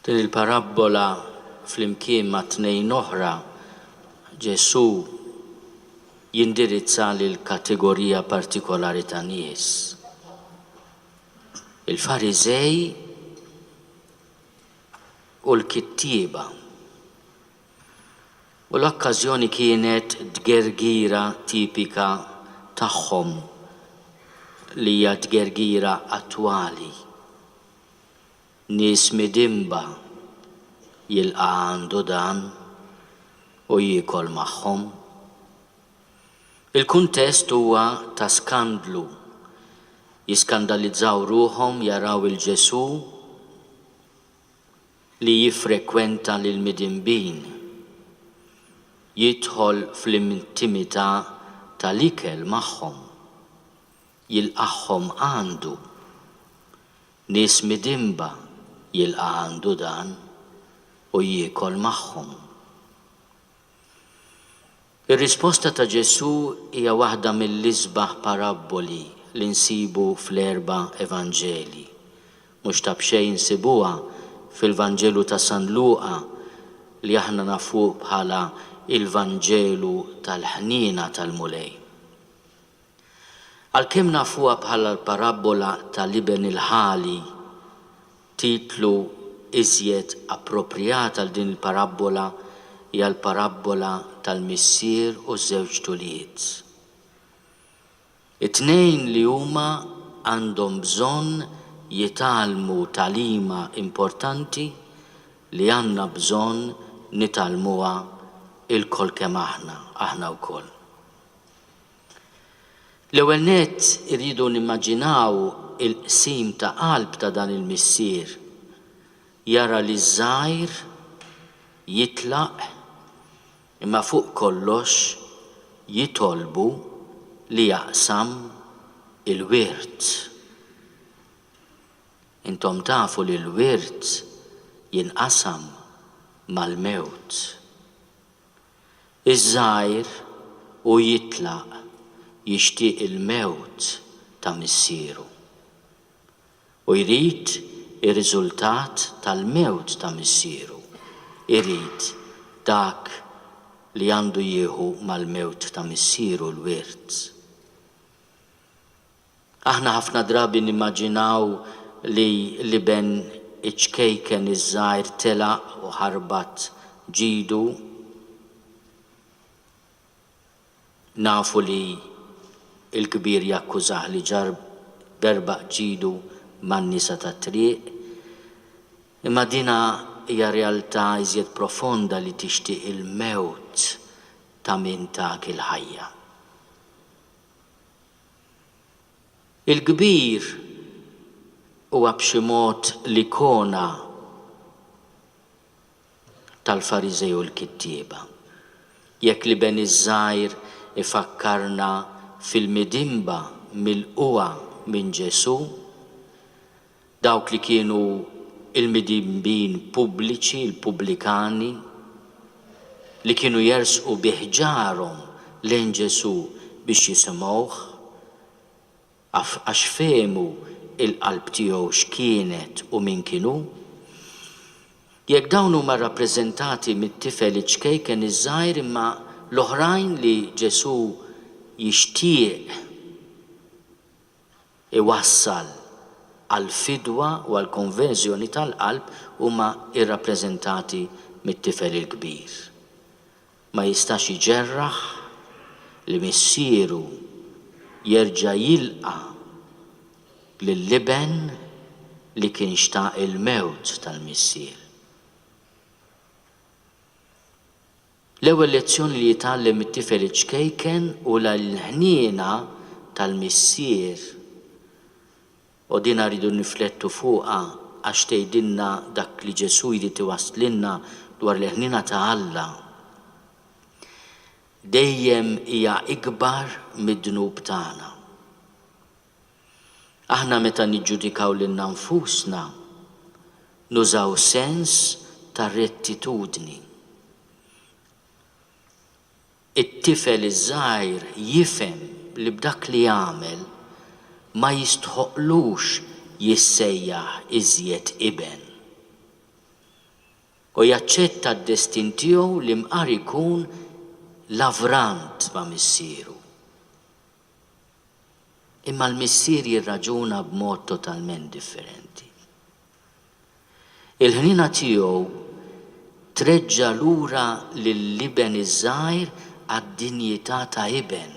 Din il-parabbola flimkien ma' tnejn oħra Ġesù jindirizza lil kategorija partikolari ta' nies. Il-Fariżej u l-kittieba. u l-okkażjoni kienet tgergira tipika tagħhom li hija tgergira attwali, nies midinba jilqa' għandu dan u jiekol magħhom. Il-kuntest huwa ta' skandlu, jiskandalizzaw ruħhom jaraw 'il Ġesù, li jiffrekwenta lill-midinbin, jidħol fl-intimità tal-ikel magħhom, jilqagħhom għandu. Nies midinba jilqa' għandu dan u jiekol magħhom. Ir-risposta ta' Ġesù hija waħda mill-isbaħ parabboli li nsibu fl-erba' Evanġelji. Mhux ta' b'xejn insibuha fil-Vanġelu ta' San Luqa li aħna nafuh bħala il-Vanġelu tal-ħniena tal-Mulej. Għalkemm nafuha bħala l-parabbola tal-iben il-ħali, titlu iżjed approprjat għal din il-parabbola hija l-parabbola tal-missier u ż-żewġt ulied. It-tnejn li huma għandhom bżonn jitgħallmu tagħlima importanti li għandna bżonn nitgħallmuha lkoll kemm aħna, aħna wkoll. L-ewwel nett irridu nimmaġinaw il-qsim ta' qalb ta' dan il-missier. Jara li ż-żgħir jitlaq imma fuq kollox jitolbu li jaqsam il-wirt. Intom tafu li l-wirt jinqasam mal-mewt. Iż-żgħir u jitlaq jixtieq il-mewt ta' missieru. U jrid ir-riżultat tal-mewt ta' missieru, irid dak li għandu jieħu mal-mewt ta' missieru l-wirt. Aħna ħafna drabi nimmaġinaw li l-iben iċ-ċkejken iż-żgħir telaq u ħarbat ġidu. Nafu li l-kbir jakkużah li ġar berbaq ġidu man-nisa tat-triq. Imma dinha hija realtà iżjed profonda li tixtieq il-mewt ta' min tak il-ħajja. Il-kbir huwa b'xi mod l-ikona tal-Fariżej u l-kittieba. Jekk l-iben iż-żgħir ifakkarna fil-midinba milqugħa minn Ġesù, Dawk li kienu l-midinbin pubbliċi, il-pubblikani, li kienu jersqu bi ħġarhom lejn Ġesù biex jisimgħuh, għax fehmu l-qalb tiegħu x'kienet u min kien hu. Jekk dawn huma rrappreżentati mit-tifel iċ-ċkejken iż-żgħir imma l-oħrajn li Ġesù jixtieq iwassal għall-fidwa u għall-konverżjoni tal-qalb huma rrappreżentati mit-tifel il-kbir. Ma jistax iġerraħ li missieru jerġa' jilqa' lill-iben li kien xtaq il-mewt tal-missier. L-ewwel lezzjoni li jitgħallem it-tifel iċ-ċkejken hu li l-ħniena tal-Missier, u dinha rridu nirriflettu fuqha għax tgħidilna dak li Ġesù jrid iwasslilna dwar il-ħniena ta' Alla, dejjem hija ikbar mid-dnub tagħna. Aħna meta niġġudikaw lilna nfusna nużaw sens ta' rettitudni. It-tifel iż-żgħir jifhem li b'dak li għamel ma jistħoqqlux jissejjaħ iżjed iben. U jaċċetta d-destin tiegħu li mqar ikun lavrant ma' missieru. Imma l-missier jirraġuna b'mod totalment differenti. Il-ħniena tiegħu treġġa' lura lill-iben iż-żgħir għad-dinjità ta' iben.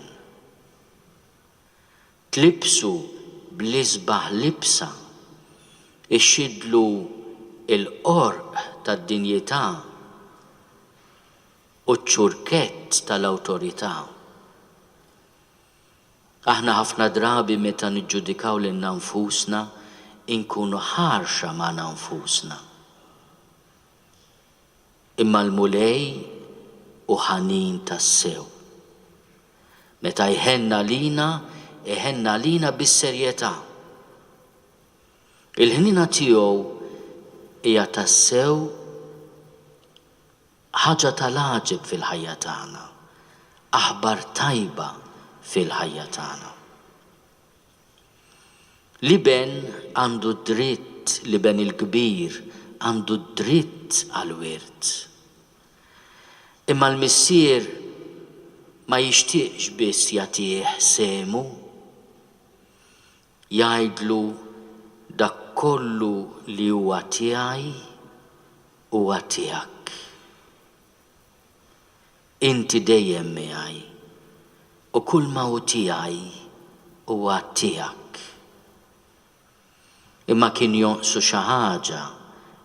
Tlibbsu bl-isbaħ libsa, ixxiddlu l-qorq tad-dinjità. u ċ-ċurkett tal-awtorità. Aħna ħafna drabi meta niġġudikaw lilna nfusna inkunu ħarxa magħna nfusna. Imma l-Mulej hu ħanin tassew. Meta jħenn għalina, iħenn għalina bis-serjetà. Il-ħniena tiegħu hija tassew Ħaġa ta' l-għaġeb fil-ħajja tagħna. Aħbar tajba fil-ħajja tagħna. L-iben għandu d-dritt, l-iben il-kbir għandu d-dritt għall-wirt. Imma l-Missier ma jixtieqx biss jagħtih sehmu. Jgħidlu, Dak kollu li huwa tiegħi huwa tiegħek. Inti dejjem miegħi, u kulma hu tiegħi huwa tiegħek. Imma kien jonqsu xi ħaġa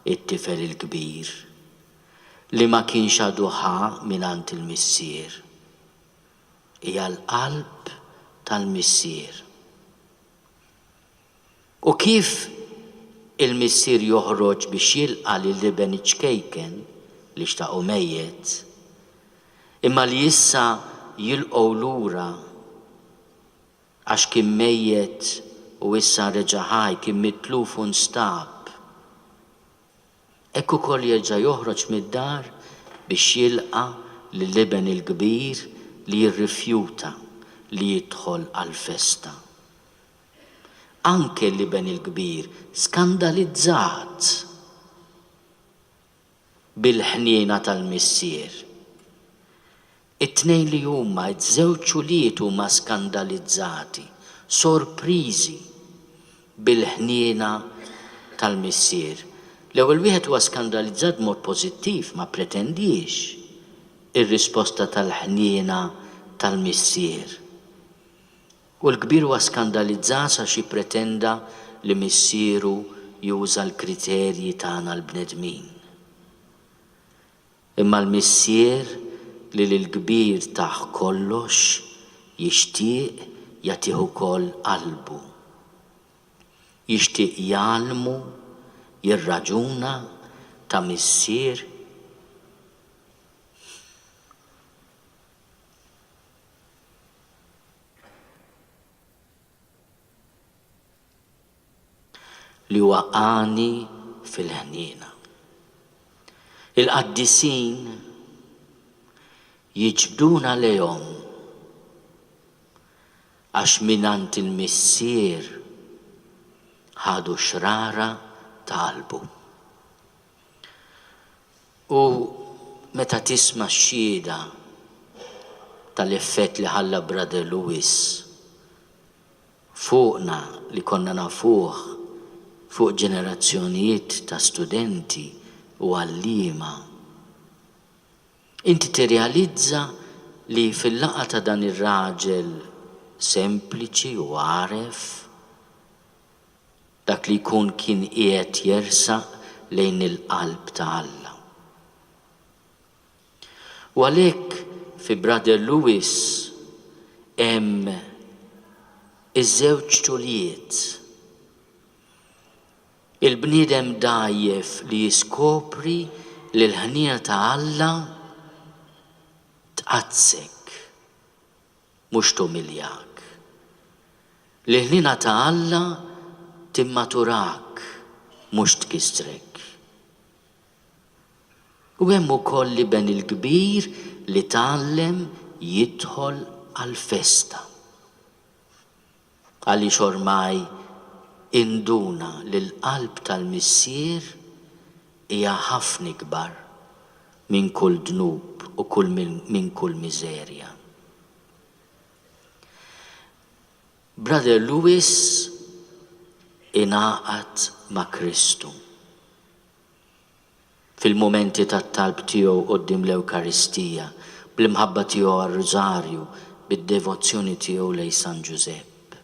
t-tifel il-kbir, li ma kienx għadu ħa mingħand il-missier. hija l-qalb tal-Missier. U kif il-Missier joħroġ biex jilqa' lil Iben iċ-ċkejken li xtaqu mejjet, imma li issa jilqgħu lura għax kien mejjet u issa reġa' ħaj, kien mitluf u nstab, Hekk ukoll jerġa' joħroġ mid-dar biex jilqa' lill-iben il-kbir li jirrifjuta li jidħol għall-festa. Anke l-iben il-kbir skandalizzat bil-ħniena tal-missier. It-tnejn li huma ż-żewġ ulied huma skandalizzati, sorpriżi bil-ħniena tal-missier. L-ewwel wieħed huwa skandalizzat b'mod pożittiv, ma ppretendiex ir-risposta tal-ħniena tal-missier. U l-kbir huwa skandalizzas għax jippretenda li missieru juża l-kriterji tagħna l-bnedmin. Imma l-Missier li lill-kbir tah kollox, jixtieq jagħtih ukoll qalbu. Jixtieq jgħallmu jirraġuna ta' missier? li huwa għani fil-ħniena. Il-qaddisin jiġbduna lejhom għax mingħand il-Missier ħadu x-xrara ta' qalbu. U meta tisma' x-xhieda tal-effett li ħalla Brother Lewis fuqna li konna nafuh fuq ġenerazzjonijiet ta' studenti u għalliema, inti tirrealizza li fil-laqgħa ta' dan ir-raġel sempliċi u għaref, Dak li jkun kien qiegħed jersaq lejn il-qalb ta' Alla. U għalhekk fi Brother Lewis hemm iż-żewġ ċulijiet. Il-bniedem dgħajjef li jiskopri li l-ħniena ta' Alla tqaddssek. mhux tumiljak. L-ilħniena ta' Alla timmatturak mhux tkissrek. U hemm ukoll l-iben il-kbir li tgħallem jidħol għall-festa. Għaliex ormai induna li l-qalb tal-Missier hija ħafna ikbar minn kull dnub u kull minn kull miżerja. Brother Louis ingħaqad ma' Kristu. fil-mumenti tat-talb tiegħu quddiem l-Ewkaristija, bl-imħabba tiegħu għar-Rużarju, bid-devozzjoni tiegħu lejn San Ġużepp,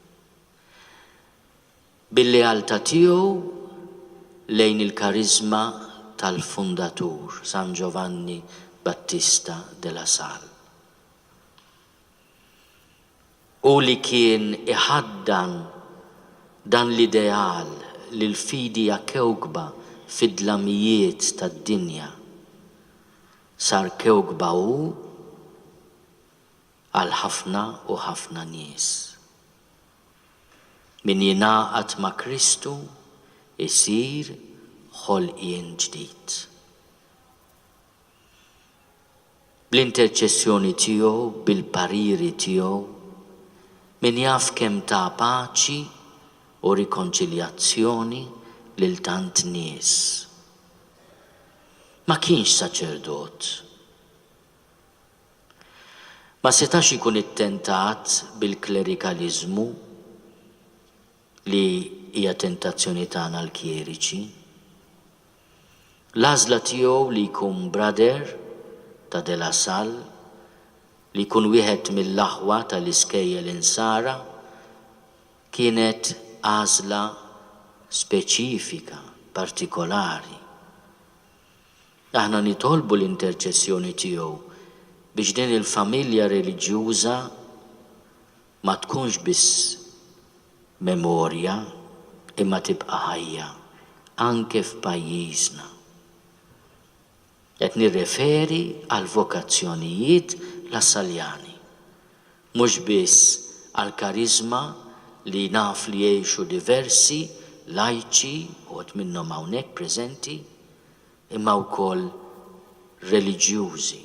bil-lealtà tiegħu lejn il-kariżma tal-fundatur, San Ġovanni Battista de la Salle. Hu li kien iħaddan dan l-ideal li l-fidi hija kewkba fid-dlamijiet tad-dinja. Sar kewkba hu għal ħafna u ħafna nies. Min jingħaqad ma' Kristu jsir ħolqien ġdid. bl-interċessjoni tiegħu, bil-pariri tiegħu, min jaf kemm ta paċi u rikonċiljazzjoni lil tant nies. Ma kienx saċerdot. Ma setax ikun ittentat bil-klerikaliżmu li hija tentazzjoni tagħna l-kjeriċi. L-għażla tiegħu li jkun Brother ta' De La Salle, li jkun wieħed mill-aħwa tal-iskejjel Insara, kienet għażla speċifika, partikolari. Aħna nitolbu l-interċessjoni tiegħu biex din il-familja reliġjuża ma tkunx biss memorja imma tibqa' ħajja anke f'pajjiżna. Qed nirreferi għall-vokazzjonijiet Lassaljani, mhux biss għall-kariżma li naf li jgħixu diversi lajċi, uħud minnhom hawnhekk preżenti, imma wkoll reliġjużi.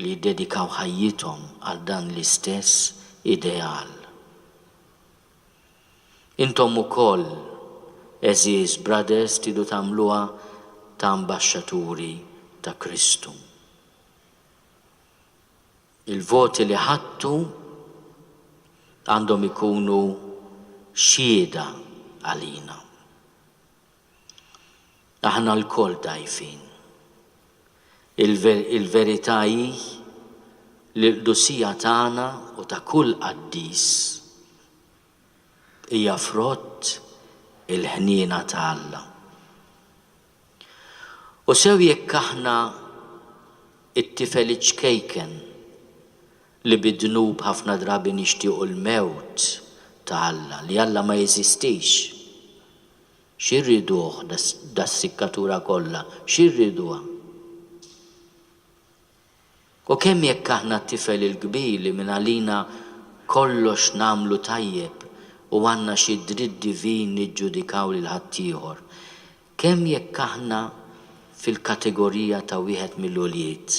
li jiddedikaw ħajjithom għal dan l-istess ideal. Intom ukoll, għeżież brothers, tridu tagħmluha ta' ambaxxaturi ta' Kristu. Il-voti li ħadtu għandhom ikunu xhieda għalina. Aħna lkoll dgħajfin. Il-verità hi li l-qdusija tagħna u ta' kull qaddis hija frott il-ħniena ta' Alla. U sew jekk aħna t-tifel iċ-ċkejken li bid-dnub ħafna drabi nixtiequ l-mewt ta' Alla, li Alla ma jeżistix, Xi rriduh das-sikkatura kollha? Xi rriduha? U kemm jekk aħna t-tifel il-kbir li mingħalina kollox nagħmlu tajjeb u għandna xi dritt divin niġġudikaw lil ħaddieħor? Kemm jekk aħna fil-kategorija ta' wieħed mill-ulied?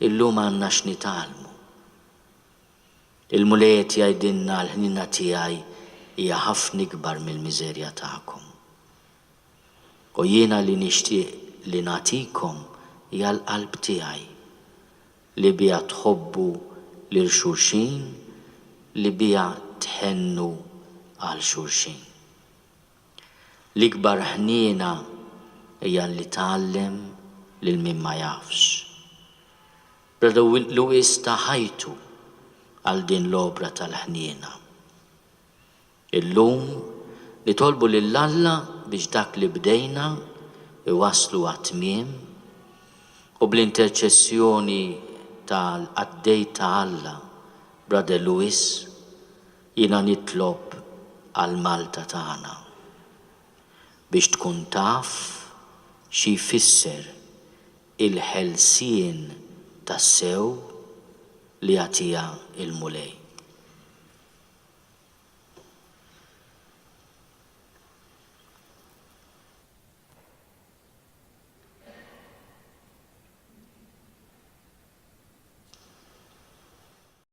Illum għandna x'nitgħallmu. Il-Mulej qed jgħidilna l-ħniena tiegħi hija ħafna ikbar mill-miżerja tagħkom. U jiena li nixtieq li nagħtikom hija l-qalb tiegħi, li biha tħobbu lil xulxin, li biha tħennu għal xulxin. L-ikbar ħniena hija li tgħallem lil min ma jafx. Lewis ta ħajtu għal din l-opra tal-ħniena. Illum nitolbu lil Alla biex dak li bdejna iwasslu għat-tmiem u bl-interċessjoni ta' l-qaddej ta' Alla, Brother Lewis, jiena nitlob għal Malta tagħna biex tkun taf xi jfisser il-ħelsien tassew li jagħtiha l-Mulej.